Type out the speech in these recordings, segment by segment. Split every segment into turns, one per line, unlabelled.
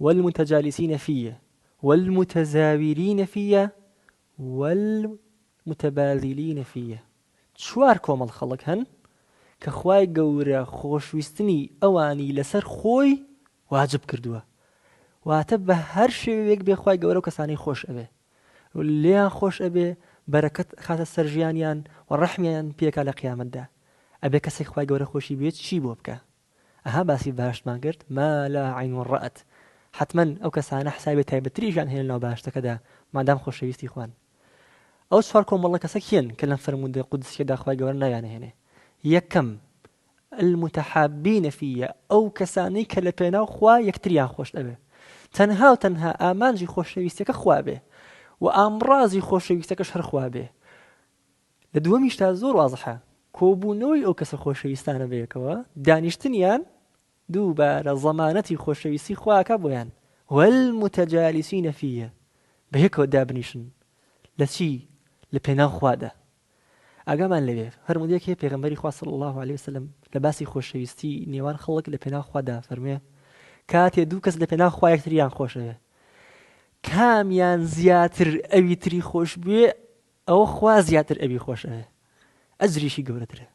والمتجالسین فیه والمتزاورین فیه والمتباذلین فیه چوار کۆمەڵ خەڵک هەن کە خوای گەورە خۆشویستنی ئەوانی لەسەر خۆی واجب کردووە واتە بە هەر شێوەیەک بێ خوای گەورە ئەو کەسانەی خۆش ئەوێ لێیان خۆش ئەبێ بەرەکەت ئەخاتە سەر ژیانیان و ڕەحمیان پێکا لە قیامەتدا ئەبێ کەسێک خوای گەورە خۆشی بوێت چی بۆ بکا ئەها باسی بەهەشتمان کرد ما لا عین رات حەتمەن ئەو کەسانە حسابی تایبەتتریشیان هەیە لەناو بەهەشتەکەدا مادام خۆشەویستی خوان ئەو چوار کۆمەڵە کەسە کێن کە لەم فەرموودە قودسیەدا خوای گەورە ناویانهێنێ یەکەم المتحابین فیە ئەو کەسانەی کە لە پێناو خوا یەکتریان خۆش ئەوێ تەنها و تەنها ئامانجی خۆشەویستەکە خوابێ و ئامڕازی خۆشەویستەکەش هەرخوا بێ لە دووەمیشدا زۆر وازحە، کۆبوونەوەی ئەو کەسە خۆشەویستانە بەیەکەوە، دانیشتنیان، دووبارە ضەمانەتی خۆشەویستی خوا ئەکا بۆیان، والمتجالسین فیه، بەیەکەوە دابنیشن، لە چی؟ لە پێناو خوادا. ئاگامان لەوێ، فەرموودەیەک هەیە پێغەمبەری خوا صلی اللە علیە وسلم لە باسی خۆشەویستی نێوان خەڵک لە پێناو خوادا ئەفەرموێ، کاتێ دوو کەس لە پێناو خوا یەکتریان خۆشەوێ، کامیان زیاتر ئەوی تری خۆشبوێ، ئەوە خوا زیاتر ئەوی خۆش ئەوێ ئەجریشی گەورەترە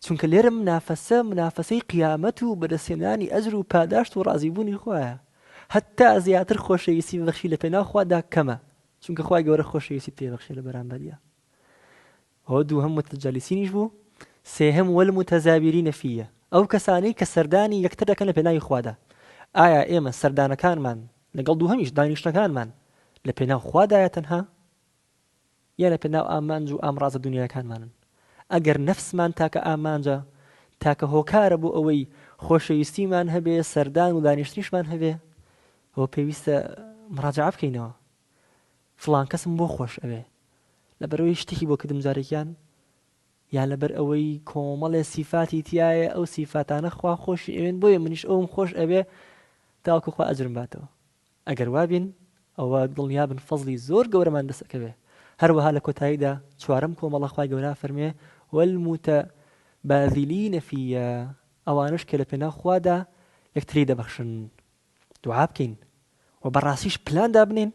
چونکە لێرە منافەسە منافەسەی قیامەت و بەدەستهێنانی ئەجر و پاداشت و ڕازیبوونی خوایە هەتا زیاتر خۆشەویستی بەخشی لە پێناو خوادا کەمە چونکە خوای گەورە خۆشەویستی پێبەخشێ لە بەرامبەریا ئەوە دووهەم متەجالیسینیش بوو سێهەم وەل متەزاویری نەفیە ئەو کەسانەی کە سەردانی یەکتر دەکەن لە پێناوی خوادا ئایا ئێمە سەردانەکانمان لەگەڵ دووهەمیش دانیشتەکانمان لە پێناو خوادایە تەنها یە لە پێناو ئامانج و ئامڕازە دونیایەکانمانن. ئەگەر نەفسمان تاکە ئامانجە، تاکە هۆکارە بۆ ئەوەی خۆشەویستیمان هەبێ، سەردان و دانیشتنیشمان هەبێ، ئەوە پێویستە مراجەعە بکەینەوە. فڵان کەسم بۆ خۆش ئەوێ؟ لەبەرئەوەی شتێکی بۆ کردم جارێکیان؟ یان لەبەر ئەوەی کۆمەڵێ سیفاتی تیایە، ئەو سیفاتانە خوا خۆشی ئەوێن بۆیە منیش ئەوم خۆش ئەوێ تاوەکو خوا ئەجرم باتەوە؟ ئەگەر وابین ئەوە دڵنیابن فەزڵی زۆر گەورەمان دەست ئەکەوێ هەروەها لە کۆتاییدا چوارەم کۆمەڵە خوای گەورە ئەفەرموێ والمتباذلین فیە ئەوانەش کە لە پێناو خوادا یەکتری دەبەخشن دوعا بکەین وە بەڕاستیش پلان دابنێین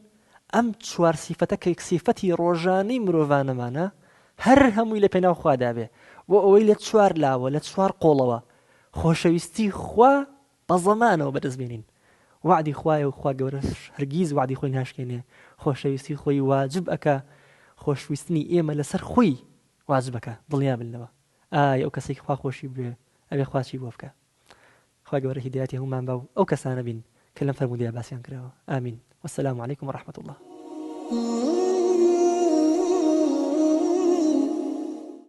ئەم چوار سیفەتە کە یەک سیفەتی ڕۆژانەی مرۆڤانەمانە هەر هەمووی لە پێناو خوادابێ بۆ ئەوەی لە چوار لاوە لە چوار قۆڵەوە خۆشەویستی خوا بە زەمانەوە بەدەست بێنین وەعدی خوایە و خوا گەورەش هەرگیز وەعدی خۆی ناشکێنێ خۆشەویستی خۆی واجب ئەکا خۆشویستنی ئێمە لەسەر خۆی واجب ئەکا دڵنیا بن لەوە ئای ئەو کەسەی خوا خۆشی بوێ ئەبێ خوا چی بۆ بکا خوای گەورە هیدایەتی هەموومان با و ئەو کەسانە بین کە لەم فەرموودەیە باسیان کراوە ئامین والسلام علیکم ورحمة الله